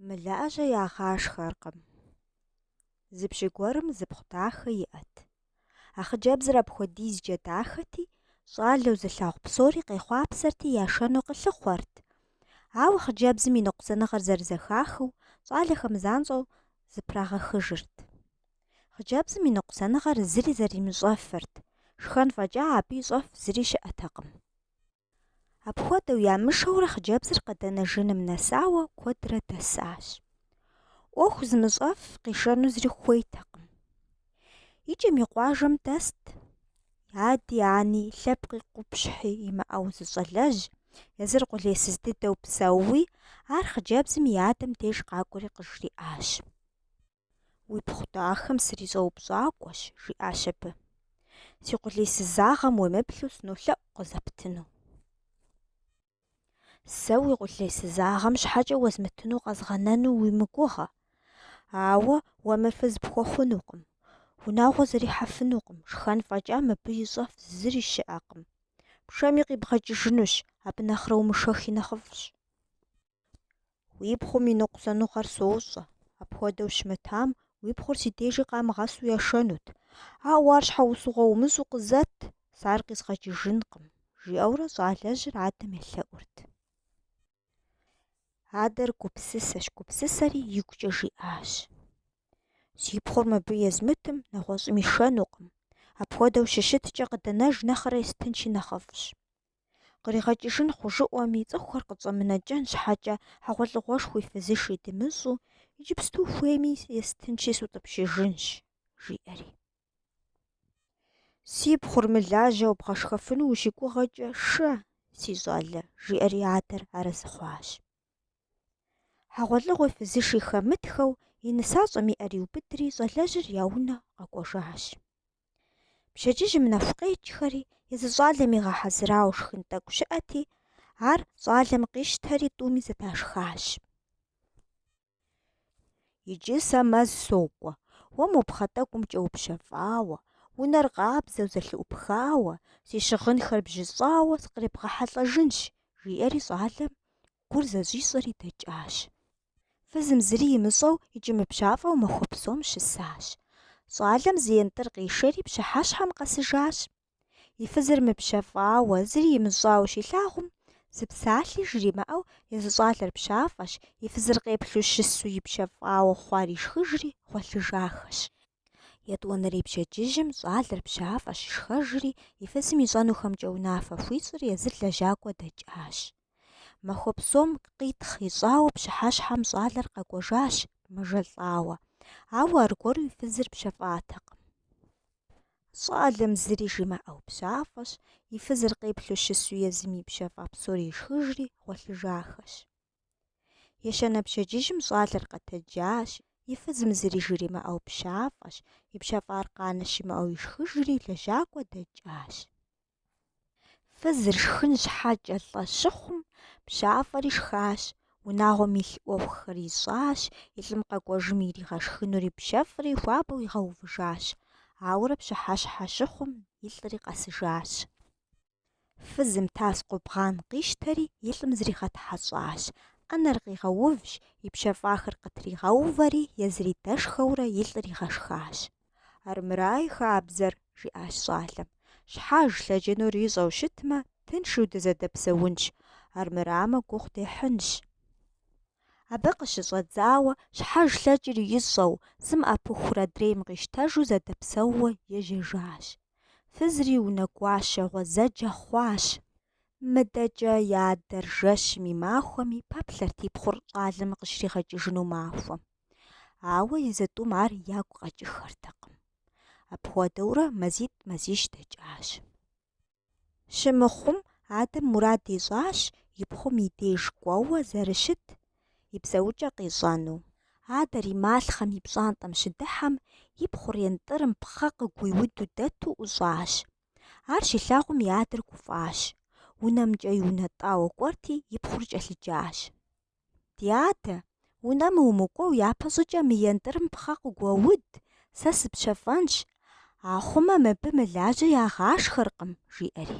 Мылажьэ ягъашхэркъым. Зы пщы гуэрым зы пхъу дахэ иӏэт. А хъыджэбзыр апхуэдизкӏэ дахэти, щӏалэу зылъагъу псори къехъуапсэрти яшэну къылъыхъуэрт. Ауэ хъыджэбзым и ныкъусаныгъэр зэрызэхахыу, щӏалэхэм занщӏэу зыпрагъэхыжырт. Хъыджэбзым и ныкъусаныгъэр зыри зэримыщӏэфырт, шхэн фӏэкӏа абы ищӏэф зыри щыӏэтэкъым. Апхуэдэу ямышэурэ хъыджэбзыр къэдэнэжыным нэсауэ куэдрэ дэсащ. ӏуэху зымыщӏэф къишэну зыри хуейтэкъым. Икӏэм и къуажэм дэст ади ани лъэпкъи къупщхьи имыӏэу зы щӏалэжь, езыр къулейсыз дыдэу псэууи, ар хъыджэбзым и адэм деж къакӏуэри къыжриӏащ. Уи пхъу дахэм срищӏэупщӏакӏуэщ, жиӏащ абы. Си къулейсызагъэм уемыплъу сынолъэӏу къызэптыну. Сэ уи къулейсызагъэм щхьэкӏэ уэзмытыну къэзгъэнэну уи мыгугъэ. Ауэ уэ мыр фыз пхуэхъунукъым. Унагъуэ зэрихьэфынукъым, шхэн фӏэкӏа мыбы ищӏэф зыри щыӏэкъым. Пшэми къибгъэкӏыжынущ, абы нэхърэ умышэхи нэхъыфӏщ. Уи пхъум и ныкъусаныгъэр сощӏэ, апхуэдэу щымытам уи пхъур си дежи къамыгъэсу яшэнут. Ауэ ар щхьэусыгъуэ умыщӏу къызэт, сэ ар къизгъэкӏыжынкъым, жиӏэурэ щӏалэжьыр адэм елъэӏурт. Адэр гупсысэщ, гупсысэри игукӏэ жиӏащ. Си пхъур мыбы езмытым, нэгъуэщӏым ишэнукъым. Апхуэдэу щыщыткӏэ къыдэнэж нэхърэ естынщи нэхъыфӏщ. Къригъэкӏыжын хъужыӏуэми, цӏыхухэр къытщӏэмынэкӏэн щхьэкӏэ хьэгъуэлӏыгъуэшхуи фызыши дымыщӏу, иджыпсту хуейми естынщи сутӏыпщыжынщ, жиӏэри. Си пхъур мылажьэу бгъэшхэфыну ущыгугъэкӏэ шэ, си щӏалэ, жиӏэри адэр арэзы хъуащ. Хьэгъуэлӏыгъуи фызыши хэмытхэу и нысащӏэм и ӏэр иубыдри щӏалэжьыр я унэ къэкӏуэжащ. Пщэдджыжьым нэху къекӏхэри езы щӏалэм игъэхьэзырауэ шхын тӏэкӏу щыӏэти, ар щӏалэм къищтэри тӏуми зэдашхащ. Иджы сэ мэз сокӏуэ, уэ мо пхъэ тӏэкӏумкӏэ упщэфӏауэ, унэр къабзэу зэлъыӏупхауэ, си щыгъынхэр бжьыщӏауэ сыкъребгъэхьэлӏэжынщ, жиӏэри щӏалэм гур зэщӏищӏэри дэкӏащ. Фызым зыри имыщӏэу икӏи мыпщафӏэу махуэ псом щысащ. Щӏалэм зы ентӏыр къишэри пщыхьэщхьэм къэсыжащ. И фызыр мыпщэфӏауэ, зыри имыщӏауэ щилъагъум, зы псалъи жримыӏэу езы щӏалэр пщафӏэщ, и фызыр къеплъу щысу ипщэфӏауэ хъуар ишхыжри гъуэлъыжахэщ. Етӏуанэрей пщэдджыжьым щӏалэр пщафӏэщ, шхэжри, и фызым ищӏэнухэмкӏэ унафэ хуищӏри езыр лэжьакӏуэ дэкӏащ. Махуэ псом къитхъ ищӏауэ пщыхьэщхьэм щӏалэр къэкӏуэжащ, мэжэлӏауэ. Ауэ аргуэру и фызыр пщэфӏатэкъым. Щӏалэм зыри жимыӏэу пщафӏэщ, и фызыр къеплъу щысу езым и пщэфӏа псори ишхыжри, гъуэлъыжахэщ. Ещанэ пщэдджыжьым щӏалэр къэтэджащ, и фызым зыри жримыӏэу пщафӏэщ, и пщэфӏар къанэ щымыӏэу ишхыжри лэжьакӏуэ дэкӏащ. Фызыр шхын щхьэкӏэ лӏэ щыхъум, пщафӏэри шхащ, унагъуэм илъ ӏуэхухэр ищӏащ, и лӏым къэкӏуэжым иригъэшхынури пщэфӏри хуабэу игъэувыжащ. Ауэрэ пщыхьэщхьэ щыхъум, и лӏри къэсыжащ. Фызым тас къубгъан къищтэри и лӏым зригъэтхьэщӏащ. ӏэнэр къигъэувщ, и пщэфӏахэр къытригъэувэри, езыри дэшхэурэ и лӏыр игъэшхащ. Армырай хабзэр, жиӏащ щӏалэм. Щхьэж лъэкӏынур ищӏэу щытмэ, тыншу дызэдэпсэунщ, армырамэ гугъу дехьынщ. Абы къыщыщӏэдзауэ, щхьэж лъэкӏыр ищӏэу, зым ӏэпыхур адрейм къищтэжу зэдэпсэууэ ежьэжащ. Фызри унэгуащэ гъуэзэджэ хъуащ. Мыдэкӏэ и адэр жэщми махуэми пэплъэрт и пхъур щӏалэм къыщригъэкӏыжыну махуэм. Ауэ езы тӏум ар ягу къэкӏыххэртэкъым. Апхуэдэурэ мазитӏ-мазищ дэкӏащ. Щымыхъум, адэм мурад ищӏащ и пхъум и деж кӏуэуэ зэрыщыт и псэукӏэ къищӏэну. Адэр и малъхъэм и пщӏантӏэм щыдыхьэм, и пхъур ентӏырым пхъэ къыгуиуду дэту ӏущӏащ. Ар щилъагъум и адэр гуфӏащ. Унэмкӏэ иунэтӏауэ кӏуэрти, и пхъур кӏэлъыджащ. Ди адэ, унэм умыкӏуэу япэщӏыкӏэ мы ентӏырым пхъэ къыгуэуд, сэ сыпщэфӏэнщ, ахъумэ мыбы мылажьэ ягъашхэркъым, жиӏэри.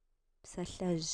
псалъэжь.